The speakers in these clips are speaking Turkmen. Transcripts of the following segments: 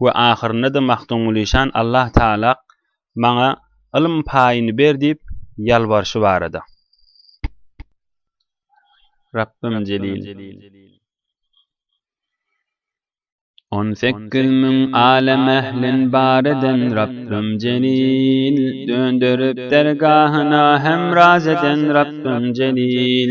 we ahyrynda-da Magtymguly şan Allah Tagalak maňa ylym paýyny ber diýip ýalbarşy barada. Rabbym Jelil. On sekiz müň alem ählin bar eden Rabbym Jelil. Dönderip dergahyna hemraz eden Rabbym Jelil.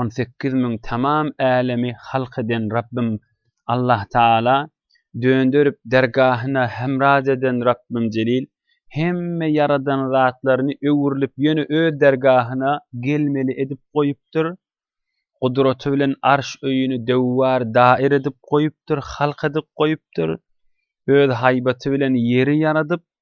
on sekiz müň tamam älemi halk eden Rabbym Allah Taala dönderip dergahyna hemraz eden Rabbym Jelil hemme ýaradan zatlaryny öwrülip ýöne öz dergahyna gelmeli edip goýupdyr gudraty bilen arş öýüni döwwar dair edip goýupdyr halk edip goýupdyr öz haýbaty bilen ýeri ýaradyp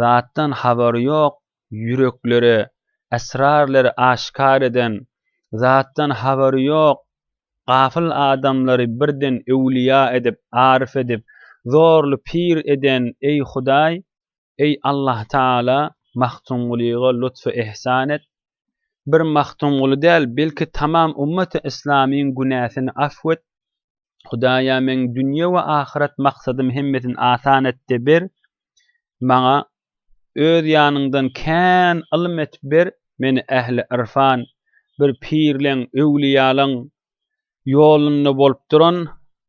zatdan habary ýok ýüreklere esrarlary aşkar eden zatdan habary ýok gafyl adamlary birden öwliýa edip aryf edip zorly pir eden eý hudaý eý Allahtagala Magtymgulyga lutfy ihsan et bir Magtymguly däl, belki tamam ummati yslamyň günäsini afw et, Hudaýa meň dünýe we ahyret maksadym hemmesini asan et de ber, maňa Öz ýanyňdan kän ylm et ber, meni ähli yrfan, bir pirleň, öwlüýalaň, Ýolunda bolup duran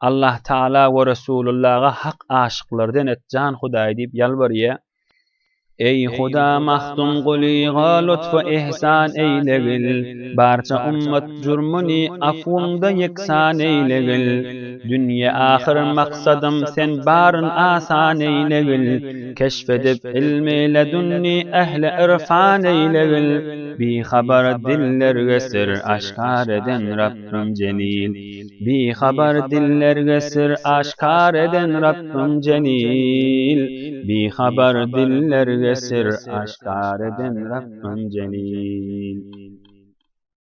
Allah Taala we Resulullaha hak aşyklardan et jan Hudaý diýip ýalbarýa. Eý Huda mahzun gulyňa lutfu ihsan eýlegil, barça ummat jürmüni afwyňda ýeksan eýlegil. Dünýe ahyr maksadym sen baryn asan eýlegil, keşf edip ilmi ledünni ähli irfan eýlegil. Bihabar diller gösür aşkar eden Rabbim Jelil Bihabar diller gösür aşkar eden Rabbim Jelil Bihabar diller gösür aşkar eden Rabbim Jelil